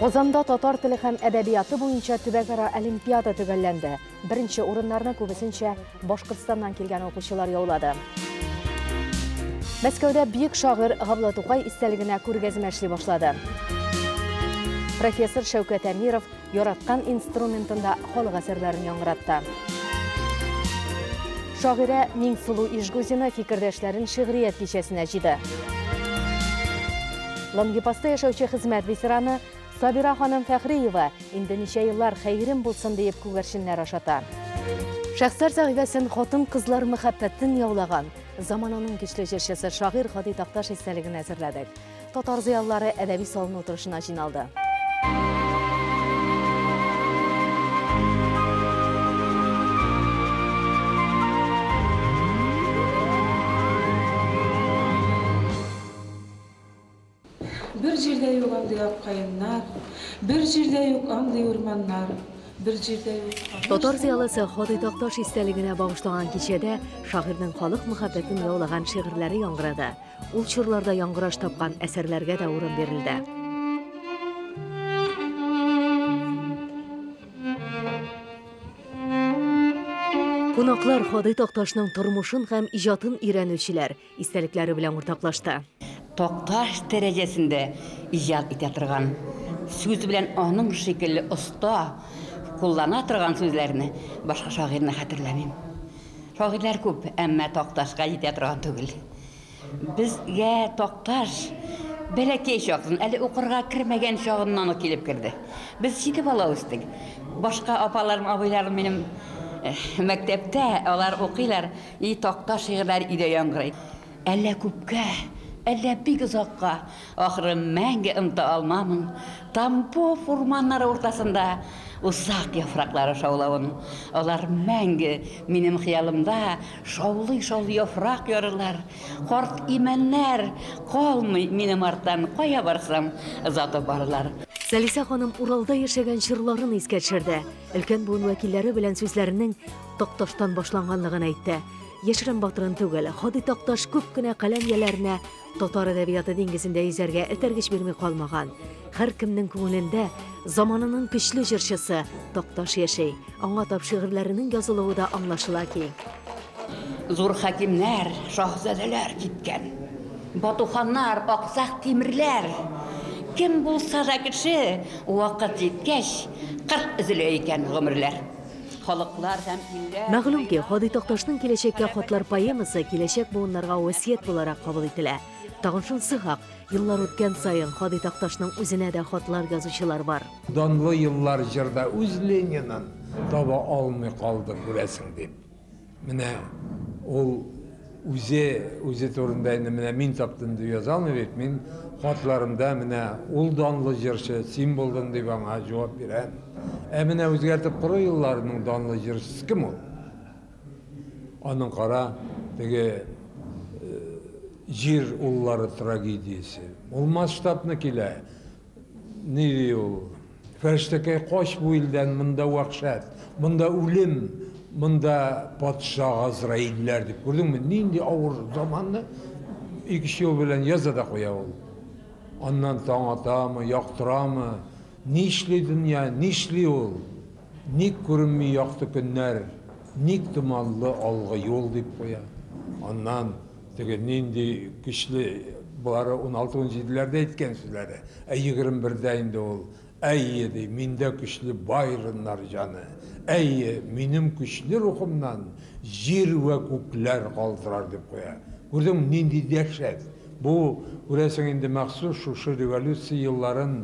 Казанда татар теле һәм әдәбияты буенча төбәкара олимпиада төгәлләнде. Беренче урыннарны күбесенчә Башкортстаннан килгән укучылар яулады. Мәскәүдә бөек шагыйрь Габдулла Тукай истәлегенә күргәзмә эшли башлады. Профессор Шәүкәт Әмиров яраткан инструментында халык әсәрләрен яңгыратты. Шагыйрә Миңсылу Ижгузина фикердәшләрен шигърият кичәсенә җыйды. Лангепаста яшәүче хезмәт ветераны Сабира ханым Фәхриева инде ничә еллар хәерем булсын диеп күгәрченнәр ашата. Шәхсәр сәхифәсен хатын-кызлар мәхәббәтен яулаган, замананың көчле җырчысы, шагыйрь Һади Такташ истәлегенә әзерләдек. Татар зыялылары әдәби салыну утырышына җыйналды. Бер җирдә юк андый ак каеннар, Бер җирдә юк андый урманнар, Бер җирдә юк камыш. Татар зыялысы Ходый Такташ истәлегенә багышлаган кичәдә шагыйрьнең халык мәхәббәтен яулаган шигырьләре яңгырады. Ул чорларда яңгыраш тапкан әсәрләргә дә урын бирелде. Кунаклар Ходый Такташның тормышын һәм иҗатын өйрәнүчеләр, истәлекләре белән уртаклашты. Такташ дәрәҗәсендә иҗат итә торган, сүз белән аның шикелле оста куллана торган сүзләрне башка шагыйрьне хәтерләмим. Шагыйрьләр күп, әмма Такташка җитә торган түгел. Безгә Такташ бәләкәй чактан, әле укырга кермәгән чагыннан ук килеп керде. Без җиде бала үстек. Башка апаларым, абыйларым минем мәктәптә, алар укыйлар. И такта шигырьләр өйдә яңгырый. Әллә күпкә, әллә бик озакка, Ахры, мәңге оныта алмамын Тамбов урманнары уртасында Усак яфраклары шаулавын. Алар мәңге минем хыялымда Шаулый-шаулый яфрак ярырлар. Карт имәннәр калмый минем арттан, Кая барсам, озатып барырлар. Сәлисә ханым Уралда яшәгән чорларын искә төшерде. Өлкән буын вәкилләре белән сүзләренең Такташтан башланганлыгын әйтте. Яшерен батырын түгел, Ходый Такташ күп кенә каләм ияләренә татар әдәбияты диңгезендә йөзәргә этәргеч бирми калмаган. Һәркемнең күңелендә заманының көчле җырчысы Такташ яши. Аңа тап шигырьләренең язылуы да аңлашыла ки. Зур хакимнәр, шаһзадәләр киткән. Батуханнар, аксак тимерләр. Кем булса да кеше, вакыт җиткәч, кырт өзелә икән гомерләр. халыклар һәм илләр Мәгълүм ки, Һади Такташның Киләчәккә хатлар поэмасы киләчәк буыннарга васыять буларак кабул ителә. Тагын шунысы хак, еллар үткән саен Һади Такташның үзенә дә хатлар язучылар бар. Данлы еллар җырда үз Ленинын таба алмый калды, күрәсең, дип. Менә ул үзе, үзе турында инде менә мин таптым дип яза алмый бит. Мин хатларымда менә ул данлы җырчы, син булдың дип аңа җавап бирәм. Ә менә үзгәртеп кору елларының данлы җырчысы кем ул? Аның кара, теге Җир уллары трагедиясе. Ул масштабны килә. Ни ди ул? Фәрештәкәй, кач бу илдән, монда вәхшәт, монда үлем, монда патша газраилләр, дип, күрдеңме, нинди авыр заманны ике-өч юл белән яза да куя ул. Аннан таң атамы, яктырамы, нишли дөнья, нишли ул, ник күренми якты көннәр, ник томанлы алгы юл, дип куя. Аннан. Теге нинди көчле болары уналты-унҗиделәрдә әйткән сүзләре, ә егерме бердә инде ул, Әйе, ди, миндә көчле байроннар җаны, әйе, минем көчле рухымнан җир вә күкләр калтырар, дип куя. Күрдеңме, нинди дәһшәт! Бу, күрәсең, инде махсус шушы революция елларын,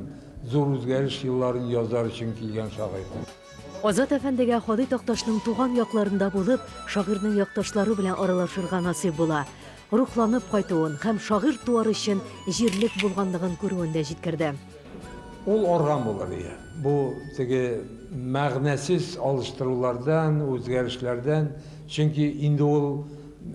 зур үзгәреш елларын язар өчен килгән шагыйрь. Азат әфәндегә Һади Такташның туган якларында булып, шагыйрьнең якташлары белән аралашырга насыйп була. Рухланып кайтуын һәм шагыйрь туар өчен җирлек булганлыгын күрүен дә җиткерде. Ул арган булыр иде. Бу теге мәгънәсез алыштырулардан, үзгәрешләрдән, чөнки инде ул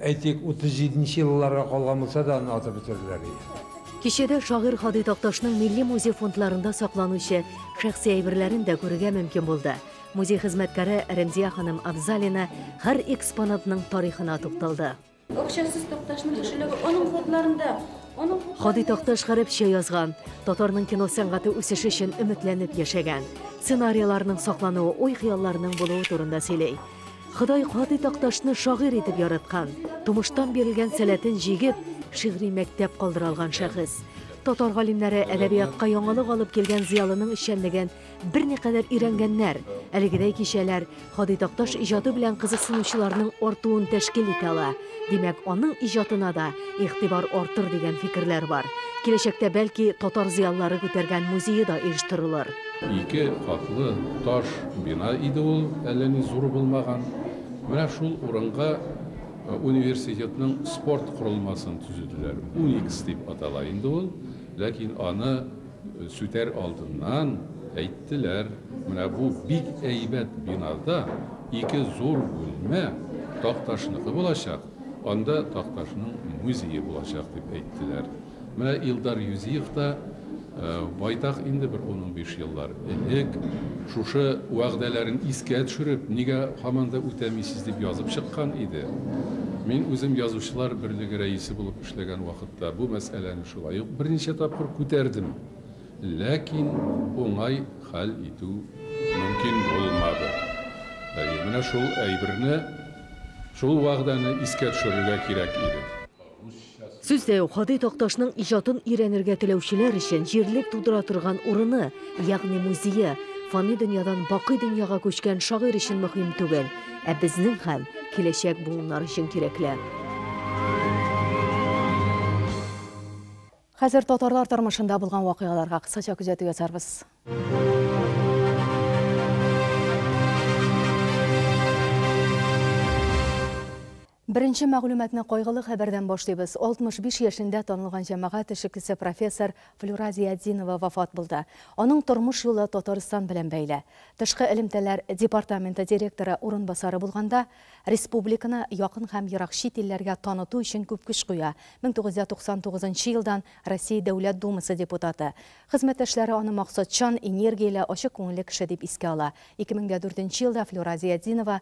Әйтик, 37 нче елларга калган булса да, аны атып бетерделәр бит. Кичәдә шагыйрь Һади Такташның Милли музей фондларында сакланучы шәхси әйберләрен дә күрергә мөмкин булды. Музей хезмәткәре Рәмзия ханым Абзалина һәр экспонатның тарихына тукталды. Акчасыз Такташның кешелеге аның фотларында. Һади Такташ гарәпчә язган, татарның кино сәнгате үсеше өчен өметләнеп яшәгән. Сценарийларның саклануы уй-хыялларның булуы турында сөйли. Ходай Катый Такташны шагыйрь итеп яраткан, тумыштан бирелгән сәләтен җигеп, шигъри мәктәп калдыра алган шәхес. Татар галимнәре әдәбиятка яңалык алып килгән зыялының эшчәнлеген берникадәр өйрәнгәннәр, әлегедәй кичәләр Ходый Такташ иҗаты белән кызыксынучыларның артуын тәшкил итә ала. Димәк, аның иҗатына да игътибар артыр дигән фикерләр бар. Киләчәктә, бәлки, татар зыялылары күтәргән музее да оештырылыр. Ике катлы таш бина иде ул, әллә ни зур булмаган. Менә шул урынга университетның спорт корылмасын төзеделәр. Уникс дип атала инде ул, ләкин аны Сүтәр алдыннан әйттеләр, менә бу бик әйбәт бинада ике зур бүлмә Такташныкы булачак, анда Такташның музее булачак, дип әйттеләр. Менә Илдар Юзиев та байтак инде, бер ун-унбиш еллар элек, шушы вәгъдәләрен искә төшереп, нигә һаман да үтәмисез, дип язып чыккан иде. Мин үзем Язучылар берлеге рәисе булып Эшләгән вакытта бу мәсьәләне шулай ук берничә тапкыр күтәрдем, ләкин уңай хәл итү мөмкин булмады. Әйе, менә шул әйберне, шул вәгъдәне искә төшерергә кирәк иде. Сүздә юк, Һади Такташның иҗатын өйрәнергә теләүчеләр өчен җирлек тудыра торган урыны, ягъни музее, фани дөньядан бакый дөньяга күчкән шагыйрь өчен мөһим түгел. Ә безнең һәм киләчәк буыннар өчен кирәкле. Хәзер татарлар тормышында булган вакыйгаларга кыскача күзәтү ясарбыз. Беренче мәгълүматны кайгылы хәбәрдән башлыйбыз, 65 яшендә танылган җәмәгать эшекчесе профессор Флюра Зиятдинова вафат булды. Аның тормыш юлы Татарстан белән бәйле. Тышкы элемтәләр департаменты директоры урынбасары булганда, республиканы якын һәм ерак чит илләргә таныту өчен күп көч куя, 1999 нчы елдан Россия Дәүләт Думасы депутаты. Хезмәттәшләре аны максатчан, энергияле, ачык күңелле кеше дип искә ала. 2004 нче елда Флюра Зиятдинова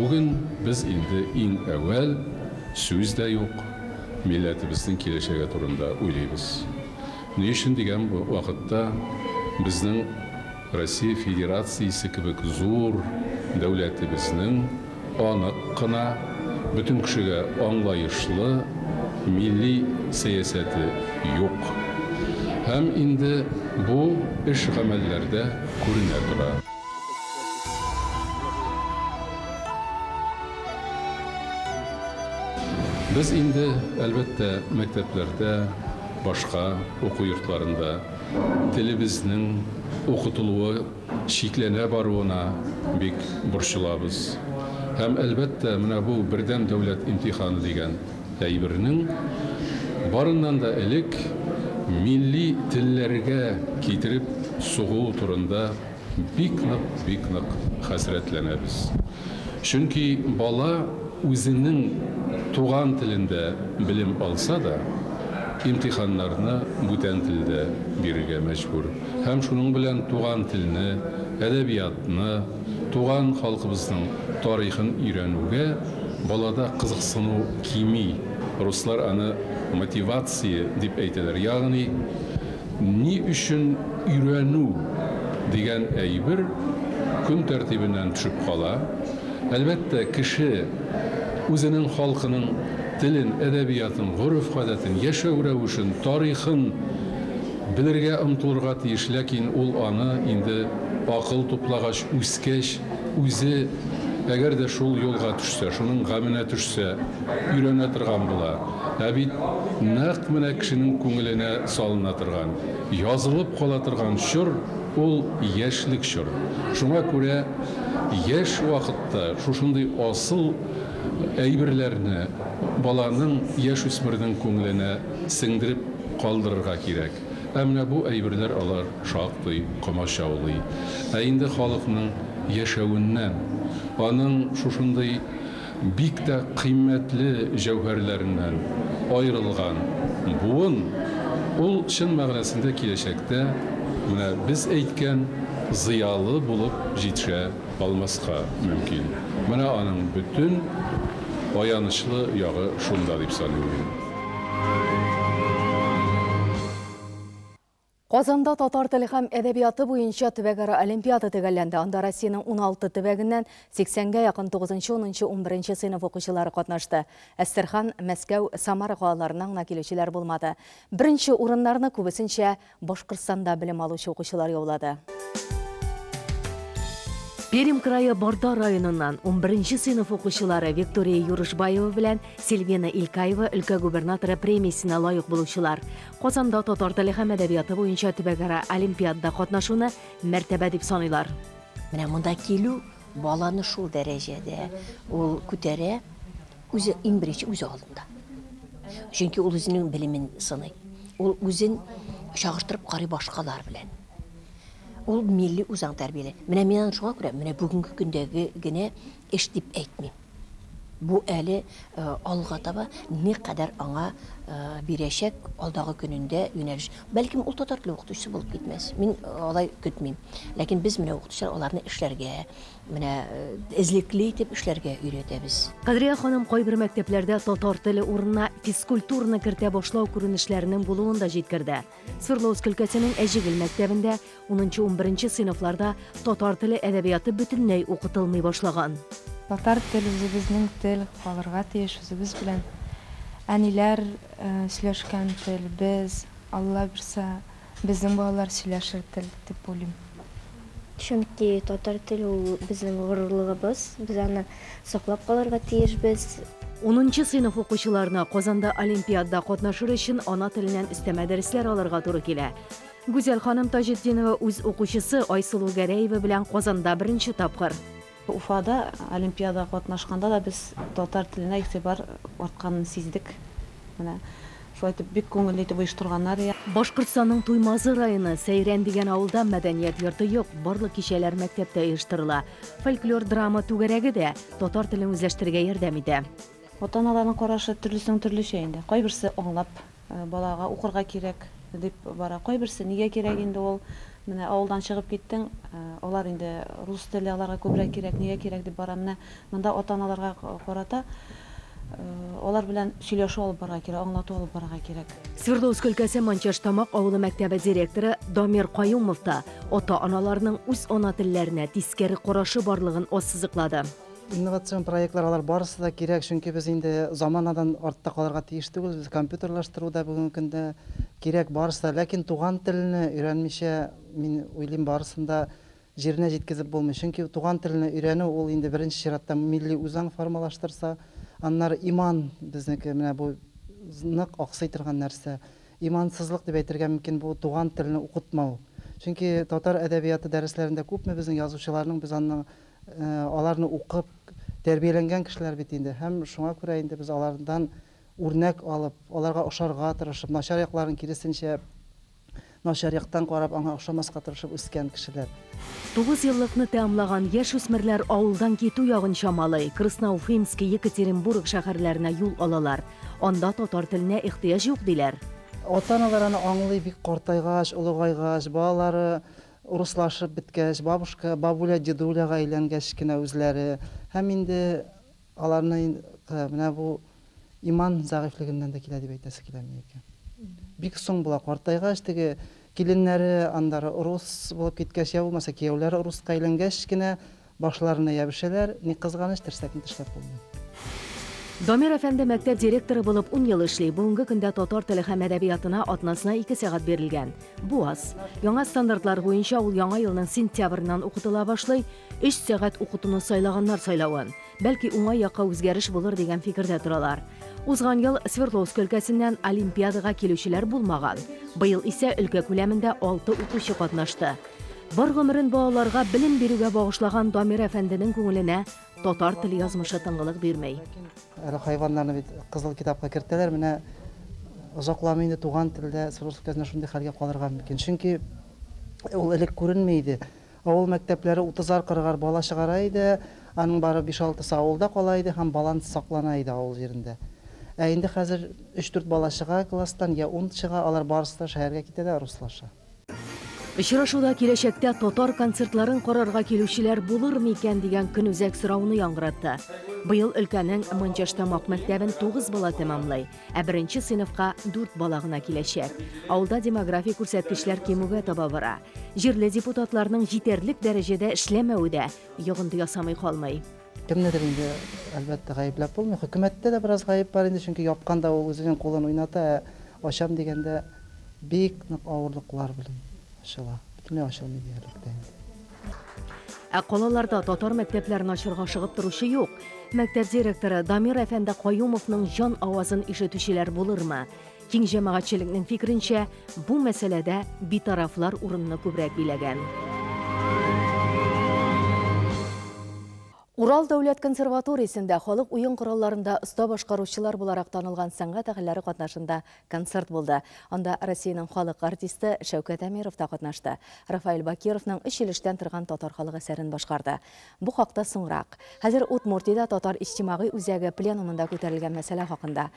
Бүген без инде иң әүвәл, сүз дә юк, милләтебезнең киләчәге турында уйлыйбыз. Ни өчен дигән вакытта, безнең. Россия Федерациясе кебек зур дәүләтебезнең анык кына, бөтен кешегә аңлаешлы милли сәясәте юк. Һәм инде бу эш-гамәлләрдә күренә тора. Без инде, әлбәттә, мәктәпләрдә, башка уку йортларында телебезнең укытылуы чикләнә баруына бик борчылабыз. Һәм, әлбәттә, менә бу бердәм дәүләт имтиханы дигән әйбернең барыннан да элек милли телләргә китереп сугуы турында Бик нык, бик нык хәсрәтләнәбез. Чөнки бала үзенең туган телендә белем алса да, имтиханнарны бүтән телдә бирергә мәҗбүр. Һәм шуның белән туган телне, әдәбиятны, туган халкыбызның тарихын өйрәнүгә балада кызыксыну кими. Руслар аны мотивация дип әйтәләр. Ягъни. Ни өчен өйрәнү дигән әйбер көн тәртибеннән төшеп кала? Әлбәттә, кеше үзенең халкының телен, әдәбиятын, гореф-гадәтен, яшәү рәвешен, тарихын белергә омтылырга тиеш, ләкин ул аны инде акыл туплагач, үскәч, үзе, әгәр дә шул юлга төшсә, шуның гаменә төшсә, өйрәнә торган була. Ә бит нәкъ менә кешенең күңеленә салына торган, язылып кала торган чор ул яшьлек чор. Шуңа күрә яшь вакытта шушындый асыл әйберләрне баланың, яшүсмернең күңеленә сеңдереп калдырырга кирәк. Ә менә бу әйберләр алар шактый комачаулый. Ә инде халыкның яшәвеннән, аның шушындый. Бик тә кыйммәтле җәүһәрләреннән аерылган буын, ул чын мәгънәсендә киләчәктә менә без әйткән зыялы булып җитшә алмаска мөмкин. Менә аның бөтен аянычлы ягы шунда дип саныйм мин. Казанда татар теле һәм әдәбияты буенча төбәкара олимпиада төгәлләнде. Анда Россиянең 16 төбәгеннән 80гә якын 9нчы, 10нчы, 11нче сыйныф укучылары катнашты. Әстерхан, Мәскәү, Самара калаларыннан гына килүчеләр булмады. Беренче урыннарны, күбесенчә, Башкортстанда белем алучы укучылар яулады. Пермь крае Барда районыннан унберенче сыйныф укучылары Виктория Юрышбаева белән Сильвена Илькаева өлкә губернаторы премиясенә лаек булучылар. Казанда татар теле һәм әдәбияты буенча төбәкара олимпиадада катнашуны мәртәбә дип саныйлар. Менә монда килү баланы шул дәрәҗәдә ул күтәрә, үзе иң беренче үзе алдында. Чөнки ул үзенең белемен сыный. Ул үзен чагыштырып карый башкалар белән. Ул милли үзаң тәрбияле. Менә мин аны шуңа күрә, менә бүгенге көндәге генә Эш дип әйтмим. Бу әле алга таба никадәр аңа бирәчәк алдагы көнендә юнәлеш. Бәлкем ул татар теле укытучысы булып китмәс. Мин алай көтмим. Ләкин без менә укытучылар аларны эшләргә, менә эзлекле итеп эшләргә өйрәтәбез. Кадрия ханым кайбер мәктәпләрдә татар теле урынына физкультураны кертә башлау күренешләренең булуын да җиткерде. Свердловск өлкәсенең Әҗегел мәктәбендә унынчы-унберенче сыйныфларда татар теле, әдәбияты бөтенләй укытылмый башлаган. Татар тел, үзебезнең тел калырга тиеш, үзебез белән әниләр сөйләшкән тел, без, Алла бирсә, безнең балалар сөйләшер тел дип уйлыйм. Чөнки татар теле ул безнең горурлыгыбыз, без аны саклап калырга тиешбез. Унынчы сыйныф укучыларына Казанда олимпиадда катнашыр өчен ана теленнән өстәмә дәресләр алырга туры килә. Гүзәл ханым Таҗетдинова үз укучысы Айсылу Гәрәева белән Казанда беренче тапкыр. Уфада олимпиадага катнашканда да без татар теленә игътибар артканын сиздек. Менә Шулай итеп, бик күңелле итеп оештырганнар. Башкортстанның Туймазы районы Сәйрән дигән авылда мәдәният йорты юк, барлык кичәләр мәктәптә оештырыла. Фольклор-драма түгәрәге дә татар телен үзләштерергә ярдәм итә. Ата-аналарның карашы төрлесенең төрлечә инде. Кайберсе аңлап, балага укырга кирәк, дип бара. Кайберсе, нигә кирәк инде ул, менә авылдан чыгып киттең, алар инде рус теле аларга күбрәк кирәк, нигә кирәк дип бара. Менә Монда ата-аналарга карата алар белән сөйләшү алып барырга кирәк, аңлату алып барырга кирәк. Свердловск өлкәсе Манчаштамак авылы мәктәбе директоры Дамир Каюмов та ата-аналарның үз ана телләренә тискәре карашы барлыгын ассызыклады. Инновацион проектлар, алар барысы да кирәк, чөнки без инде заманадан артта калырга тиеш түгел. Компьютерлаштыру да бүгенге көндә кирәк, барысы да. Ләкин туган телне өйрәнмичә, мин уйлыйм, барысын да Җиренә җиткезеп булмый, чөнки туган телне өйрәнү ул инде беренче чиратта милли үзаң формалаштырса, аннары иман, безнеке менә бу нык аксый торган нәрсә. Имансызлык дип әйтергә мөмкин бу туган телне укытмау. Чөнки татар әдәбияты дәресләрендә күпме безнең язучыларның без анны аларны укып тәрбияләнгән кешеләр бит инде һәм шуңа күрә инде без алардан үрнәк алып, аларга ошарга тырышып, начар якларын киресенчә Начар яктан карап, аңа охшамаска тырышып үскән кешеләр. Тугыз еллыкны тәамлаган яшүсмерләр авылдан китү ягын чамалый, Красноуфимск, Екатеринбург шәһәрләренә юл алалар. Анда татар теленә ихтыяҗ юк, диләр. Ата-аналар аны аңлый бик картайгач, олыгайгач, балалары урыслашып беткәч, бабушка, бабуля, дедуляга әйләнгәч кенә үзләре һәм инде Аларны ин менә бу иман зәгыйфьлегеннән дә килә дип әйтәсе киләме икән? Бик соң була, картайгач, теге киленнәре аннары рус булып киткәч, йә булмаса кияүләре руска әйләнгәч кенә башларына ябешәләр, ни кызганыч, терсәкне тешләп булмый. Дамир әфәнде мәктәп директоры булып ун ел эшли. Бүгенге көндә татар теле һәм әдәбиятына атнасына ике сәгать бирелгән. Бу аз. Яңа стандартлар буенча ул Яңа елның сентябреннән укытыла башлый, Өч сәгать укытуны сайлаганнар сайлавын. Бәлки уңай якка үзгәреш булыр дигән фикердә торалар. Узган ел Свердловск өлкәсеннән олимпиадага килүчеләр булмаган. Быел исә өлкә күләмендә алты укучы катнашты. Бар гомерен балаларга белем бирүгә багышлаган Дамир әфәнденең күңеленә татар теле язмышы тынгылык бирми. Әле хайваннарны бит кызыл китапка кертәләр, менә озакламый инде туган телдә Свердловск өлкәсендә шундый хәлгә калырга мөмкин. Чөнки ул элек күренми иде. Авыл мәктәпләре утызар-кырыгар бала чыгара иде, аның бары биш-алтысы авылда кала иде һәм баланс саклана иде авыл җирендә. Ә инде хәзер өч-дүрт бала чыга класстан, йә ун чыга, алар барысы да шәһәргә китәләр, руслаша. Очрашуда киләчәктә татар концертларын карарга килүчеләр булырмы икән дигән көнүзәк сорауны яңгыратты. Быел өлкәнең Манчаштамак мәктәбен тугыз бала тәмамлый. Ә беренче сыйныфка дүрт бала гына киләчәк. Авылда демографик күрсәткечләр кимүгә таба бара. Җирле депутатларның җитәрлек дәрәҗәдә эшләмәве дә йогынты ясамый калмый. Кемнедер инде, әлбәттә, гаепләп булмый. Хөкүмәттә дә бераз гаеп бар инде, чөнки япканда ул үзенең кулын уйната, ә ачам дигәндә, бик нык авырлыклар белән ачыла. Бөтенләй ачылмый диярлек тә инде. Ә калаларда татар мәктәпләрен ачырга ашыгып торучы юк. Мәктәп директоры Дамир әфәнде Каюмовның җан авазын ишетүчеләр булырмы? Киң җәмәгатьчелекнең фикеренчә, бу мәсьәләдә битарафлар урынны күбрәк биләгән. Урал дәүләт консерваториясендә халык уен коралларында оста башкаручылар буларак танылган сәнгать әһелләре катнашында Концерт булды. Анда Россиянең халык артисты Шәүкәт Әмиров та катнашты. Рафаэль Бакировның өч ел эштән торган татар халык әсәрен башкарды. Бу хакта соңрак. Хәзер Удмуртиядә татар иҗтимагый үзәге пленумында күтәрелгән мәсьәлә хакында.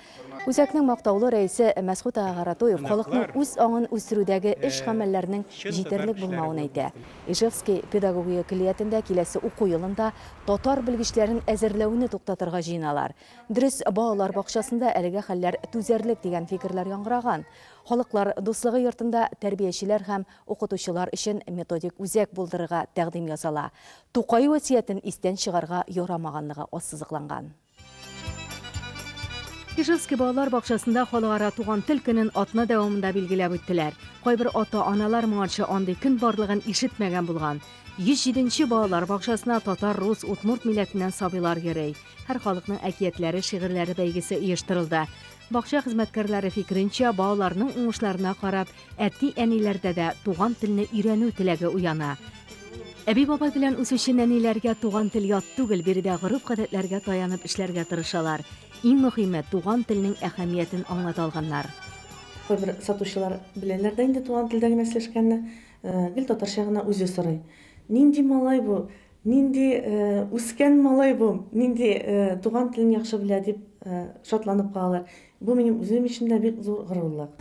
Үзәкнең мактаулы рәисе Мәсхүт Агаратуев халыкның үз аңын үстерүдәге эш-гамәлләрнең җитәрлек булмавын әйтә. Ижевски педагогия көллиятендә киләсе уку елында татар белгечләрен әзерләүне туктатырга җыеналар. Дөрес, балалар бакчасында әлеге хәлләр түзәрлек дигән фикерләр яңгыраган. Халыклар дуслыгы йортында тәрбиячеләр һәм укытучылар өчен методик үзәк булдырырга тәкъдим ясала. Тукай васыятен истән чыгарга ярамаганлыгы ассызыкланган. Ижевский балалар бакчасында Халыкара туган тел көнен атна дәвамында билгеләп үттеләр. Кайбер ата-аналар моңарчы андый көн барлыгын ишетмәгән булган. 107 нче балалар бакчасына татар, рус, удмурт милләтеннән сабыйлар йөри. Һәр халыкның әкиятләре, шигырьләре бәйгесе оештырылды. Бакча хезмәткәрләре фикеренчә, балаларның уңышларына карап, әти-әниләрдә дә туган телне өйрәнү теләге уяна. Әби-бабай белән үсүче нәниләргә туган тел ят түгел, биредә гореф-гадәтләргә таянып эшләргә тырышалар. Иң мөһиме, туган телнең әһәмиятен аңлата алганнар. Кайбер сатучылар беләләр дә инде туган телдә генә сөйләшкәнне, гел татарча гына үзе сорый. Нинди малай бу, Нинди үскән малай бу, нинди туган телен яхшы белә, дип шатланып калалар. Бу минем үзем өчен дә бик зур горурлык.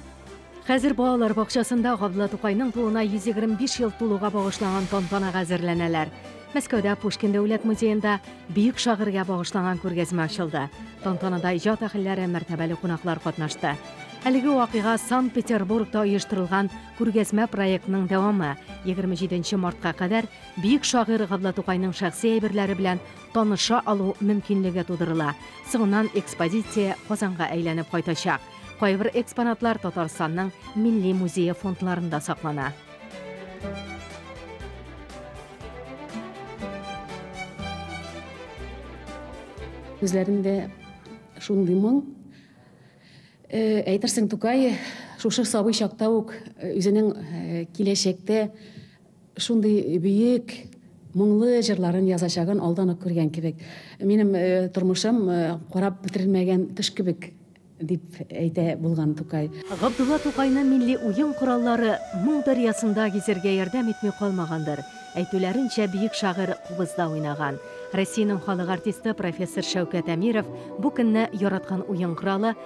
Хәзер балалар бакчасында Габдулла Тукайның тууына 125 ел тулуга багышланган тантанага әзерләнәләр. Мәскәүдә Пушкин дәүләт музеенда бөек шагыйрьгә багышланган күргәзмә ачылды. Тантанада иҗат әһелләре, мәртәбәле кунаклар катнашты. Әлеге вакыйга Санкт-Петербургта оештырылган күргәзмә проектының дәвамы. 27 мартка кадәр Бөек шагыйрь Габдла Тукайның шәхси әйберләре белән таныша алу мөмкинлеге тудырыла. Соңыннан экспозиция Казанга әйләнеп кайтачак. Кайбер экспонатлар Татарстанның Милли музее фондларында саклана. Күзләрендә шундый моң. Әйтерсең, Тукай шушы сабый чакта ук үзенең киләчәктә Шундый бөек, моңлы җырларын язачагын алдан ук күргән кебек. Минем тормышым карап бетерелмәгән кыш кебек, дип әйтә булган Тукай. Габдулла Тукайны милли уен кораллары моң дәрьясында гизәргә ярдәм итми калмагандыр. Әйтүләренчә, бөек шагыйрь кубызда уйнаган. Россиянең халык артисты профессор Шәүкәт Әмиров бу көнне яраткан уен коралы,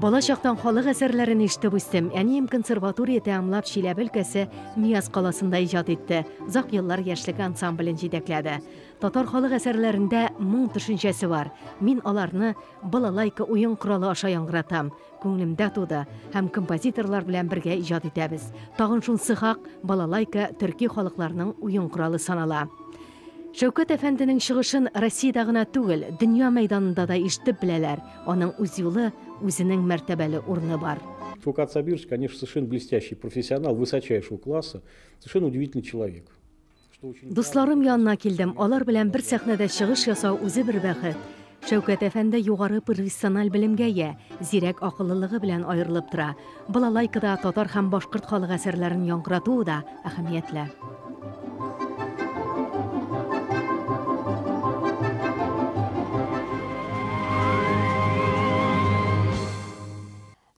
Бала чактан халык әсәрләрен ишетеп үстем. Әнием консерватория тәмамлап Чиләбе өлкәсе Мияс каласында иҗат итте. Озак еллар яшьлек ансамблен җитәкләде. Татар халык әсәрләрендә моң төшенчәсе бар. Мин аларны балалайка уен коралы аша яңгыратам. Күңелемдә туды һәм композиторлар белән бергә иҗат итәбез. Тагын шунсы хак, балалайка төрки халыкларның уен коралы санала. Шәүкәт әфәнденең чыгышын Россиядә гына түгел, дөнья мәйданында да ишетеп беләләр, аның үз юлы, үзенең мәртәбәле урыны бар. Фу Коцабирск, конечно, совершенно блестящий профессионал высочайшего класса, совершенно удивительный человек. Дусларым янына килдем, алар белән бер сәхнәдә чыгыш ясау үзе бер бәхет. Шәүкәт әфәнде югары профессиональ белемгә ия, зирәк акыллылыгы белән аерылып тора. Балалайкада татар һәм башкорт халык әсәрләрен яңгырату да әһәмиятле.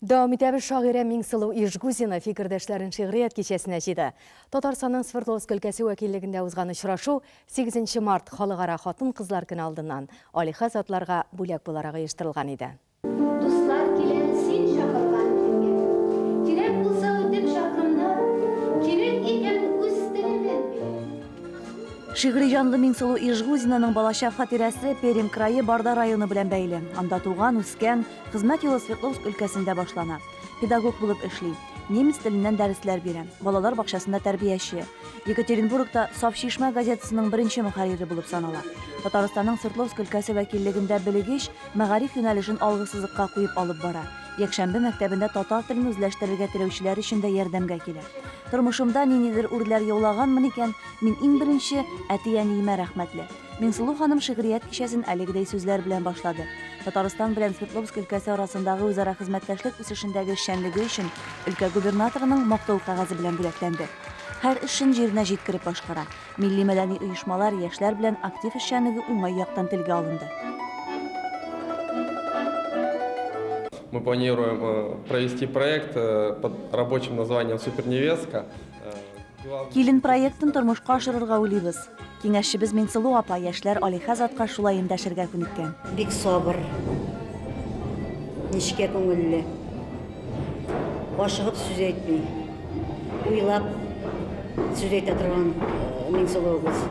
Дәвам итәбез, шагыйрә Миңсылу Ижгузина фикердәшләрен шигърият кичәсенә җыйды. Татарстанның Свердловск өлкәсе вәкиллегендә узган очрашу сигезенче март, Халыкара хатын-кызлар көне алдыннан, Алиха затларга бүләк буларак оештырылган иде. Дуслар килә син чакырган көнгә. Кирәк булса үтеп чакрымда. Кирәк икән үз теленнән белә. Шигъри җанлы Миңсылу Ижгузинаның балачак хатирәсе Пермь крае Барда районы белән бәйле. Анда туган, үскән. Хезмәт юлы Свердловск өлкәсендә башлана. Педагог булып эшли. Немец теленнән дәресләр бирә. Балалар бакчасында тәрбияче. Екатеринбургта Саф чишмә газетасының беренче мөхәррире булып санала. Татарстанның Свердловск өлкәсе вәкиллегендә белегеч мәгариф юнәлешен алгысызыкка куеп алып бара. Якшәмбе мәктәбендә татар телен үзләштерергә теләүчеләр өчен дә ярдәмгә килә. Тормышымда ниндидер үрләр яулаганмын икән, мин иң беренче әти-әниемә рәхмәтле. Миңсылу ханым шигърият кичәсен әлегедәй сүзләр белән башлады. Татарстан белән Свердловск өлкәсе арасындагы үзара хезмәттәшлек үсешендәге эшчәнлеге өчен өлкә губернаторының Мактау кәгазе белән бүләкләнде. Һәр эшен җиренә җиткереп башкара. Милли-мәдәни оешмалар, яшьләр белән актив эшчәнлеге уңай яктан телгә алынды. Мы планируем провести проект под рабочим названием Суперневестка. Килен проектын тормышка ашырырга уйлыйбыз. Киңәшчебез Минсылу апа яшьләр алиһә затка шулай эндәшергә күнеккән. Бик сабыр, нечкә күңелле, ашыгып сүз әйтми, уйлап сүз әйтә торган Минсылуыбыз.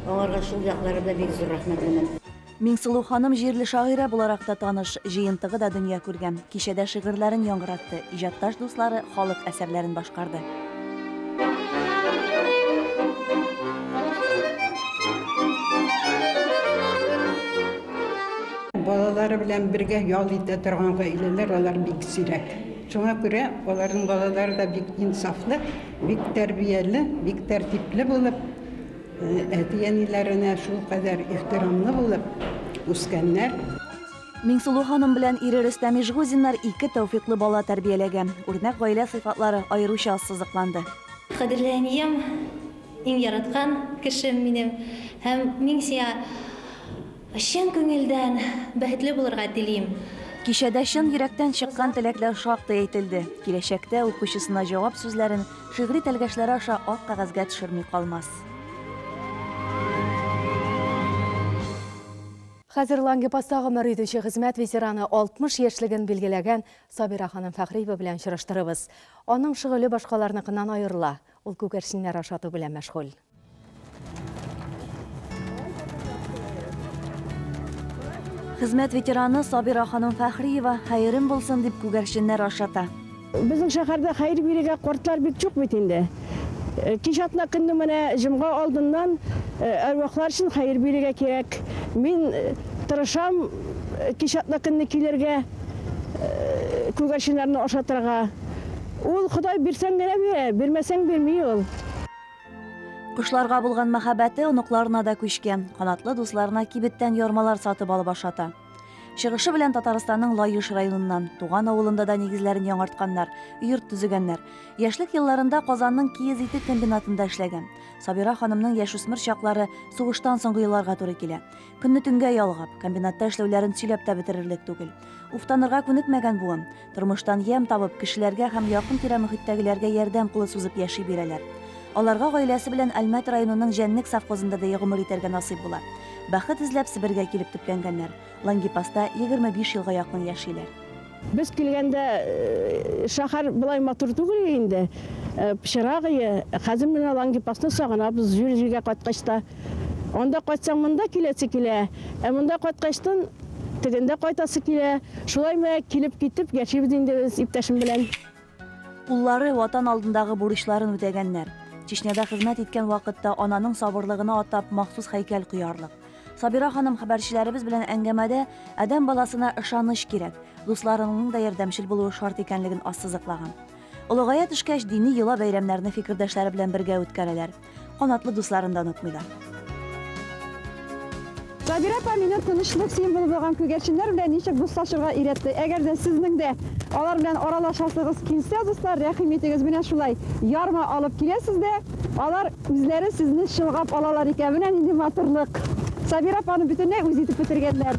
Аңарга шул яклары белән бик зур рәхмәтлемен. Миңсылу ханым җирле шагыйрә буларак та таныш, җыентыгы да дөнья күргән. Кичәдә шигырьләрен яңгыратты, иҗатташ дуслары халык әсәрләрен башкарды. балалары белән бергә ял итә торган гаиләләр алар бик сирәк. Шуңа күрә аларның балалары да бик инсафлы, бик тәрбияле, бик тәртипле булып, Әти-әниләренә шулкадәр ихтирамлы булып үскәннәр. Миңсылу ханым белән ире Рөстәм Ижгузиннар ике тәүфыйклы бала тәрбияләгән. Үрнәк гаилә сыйфатлары аеруча ассызыкланды. Кадерле әнием, иң яраткан кешем минем һәм мин сиңа чын күңелдән бәхетле булырга телим. Кичәдә чын йөрәктән чыккан теләкләр шактый әйтелде. Киләчәктә укучысына җавап сүзләрен Шигъри тәлгәшләре аша ак кәгазьгә төшерми калмас. Хәзер Лангепаста гомер итүче хезмәт ветераны, 60 яшьлеген билгеләгән Сабира ханым Фәхриева белән очраштырыбыз. Аның шөгыле башкаларныкыннан аерыла, ул күгәрченнәр ашату белән мәшгуль. Хезмәт ветераны Сабира ханым Фәхриева хәерем булсын дип күгәрченнәр ашата. Безнең шәһәрдә хәер бирергә кортлар бик чук бит инде. Э, кич атна көнне менә җомга алдыннан э, әрвахлар өчен хәер бирергә кирәк. Мин э, тырышам кич атна көнне килергә күгәрченнәрне ашатырга. Ул Ходай бирсәң генә бирә, бирмәсәң бирми ул. Кошларга булган мәхәббәте оныкларына да күчкән. Канатлы дусларына кибеттән ярмалар сатып алып ашата. Чыгышы белән Татарстанның Лаеш районыннан, туган авылында да нигезләрен яңартканнар, йорт төзегәннәр. Яшьлек елларында Казанның киез ите комбинатында эшләгән. Сабира ханымның яшүсмер чаклары сугыштан соңгы елларга туры килә. Көнне төнгә ялгап, комбинатта эшләүләрен сөйләп тә бетерерлек түгел. Уфтанырга күнекмәгән буын. Тормыштан ямь табып, кешеләргә һәм якын-тирә мөхиттәгеләргә ярдәм кулы сузып яши бирәләр. Аларга гаиләсе белән Әлмәт районының Җәнлек совхозында да гомер итәргә насыйп була. Бәхет эзләп Себергә килеп төпләнгәннәр. Лангепаста егерме биш елга якын яшиләр. Без килгәндә шәһәр болай матур түгел инде, пычрак иде. Хәзер менә Лангепасны сагынабыз, җир-җиргә кайткач та. Анда кайтсаң, монда киләсе килә, ә монда кайткачтын, Тегендә кайтасы килә. Шулай мәк килеп китеп яшибез инде без иптәшем белән. Уллары Ватан алдындагы бурычларын үтәгәннәр. Чечняда хезмәт иткән вакытта ананың сабырлыгына атап махсус һәйкәл куярлык. Сабира ханым хәбәрчеләребез белән әңгәмәдә адәм баласына ышаныч кирәк, дусларыңның да ярдәмчел булуы шарт икәнлеген ассызыклаган. Олыгая төшкәч, дини йола-бәйрәмнәрне фикердәшләре белән бергә үткәрәләр. канатлы дусларын да онытмыйлар. Сабира апа мине тынычлык символы булган күгәрченнәр белән ничек дуслашырга өйрәтте. Әгәр дә сезнең дә алар белән аралашасыгыз килсә, дуслар, рәхим итегез, менә шулай ярма алып киләсез дә, алар үзләре сезне чылгап алалар икән. Менә нинди матурлык. Сабира апаны бөтенләй үз итеп бетергәннәр.